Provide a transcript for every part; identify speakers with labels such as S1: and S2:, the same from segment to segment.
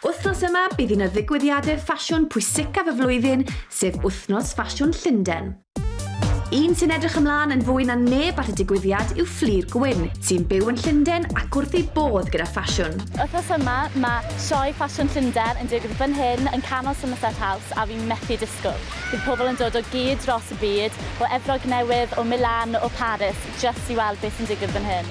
S1: Wythnos yma, bydd un o ddigwyddiadau ffasiwn pwysicaf y flwyddyn, sef Wythnos Ffasiwn Llundain. Un sy'n edrych ymlaen yn fwy na neb at y digwyddiad yw Fflir Gwyn, sy'n byw yn Llundain ac wrth ei bodd gyda ffasiwn. Wythnos yma,
S2: mae Sioe Ffasiwn Llundain yn digwydd fan hyn yn canol Somerset House a fi'n methu disgwyl. Bydd pobl yn dod o gyd dros y byd, o Efrog Newydd, o Milan, o Paris, jyst i weld beth sy'n digwydd fan hyn.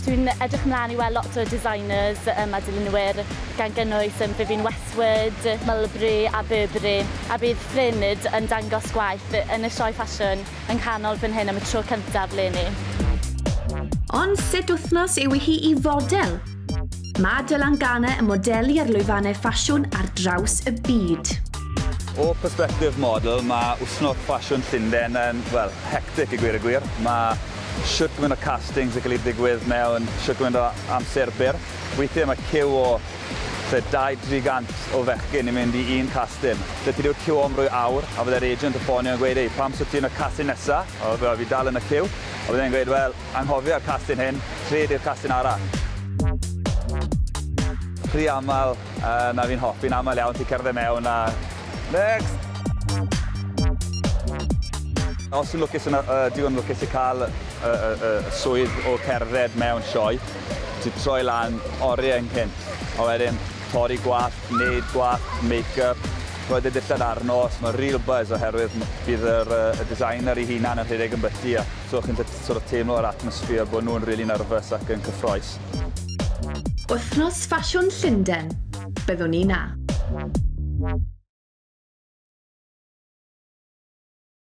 S2: Dwi'n edrych ymlaen i weld lot o designers um, a dilynwyr, gan gynnwys um, Vivienne Westwood, Mulberry a Burberry, a bydd Ffrynid yn dangos gwaith yn y sioe ffasiwn yng nghanol fan hyn am y tro cyntaf leni.
S1: Ond sut wythnos yw hi i fodel? Mae Dylan Garner yn modelu ar lwyfannau ffasiwn ar draws y byd. O
S3: persbectif model, mae wythnos ffasiwn Llundain yn, wel, hectic i gweud y gwir. Mae shwt gymaint o castings yn cael eu digwydd mewn shwt gymaint o amser byr. Weithiau mae ciw o tua 200-300 o fechgyn i mynd i un castyn. Daeth i ryw ciw o am rhyw awr a fydde'r agent yn ffonio yn gweud, 'Ei, pam shwt ti yn y castyn nesa? A fi dal yn y ciw. A fydde e'n gweud, 'Wel, Anghofia'r castyn hyn, lle ydy'r castyn arall? Rhy aml, yy na fi'n hoffi'n aml iawn ti'n cerdded mewn a next! Os ti'n lwcus yn y yy digon lwcus i ca'l y y y y y swydd o cerdded mewn sioe, ti'n troi lan orie ynghynt, a wedyn torri gwallt, neud gwallt, make-up, rhoi dy dillad arno, so ma' real buzz oherwydd m- bydd yr yy y designer 'i hunan yn rhedeg yn byty a So chi'n gallu sort of teimlo yr atmosphere bod nhw'n rili nervous ac yn cyffroes.
S1: Wythnos Ffasiwn
S3: Llundain,
S1: byddwn i 'na.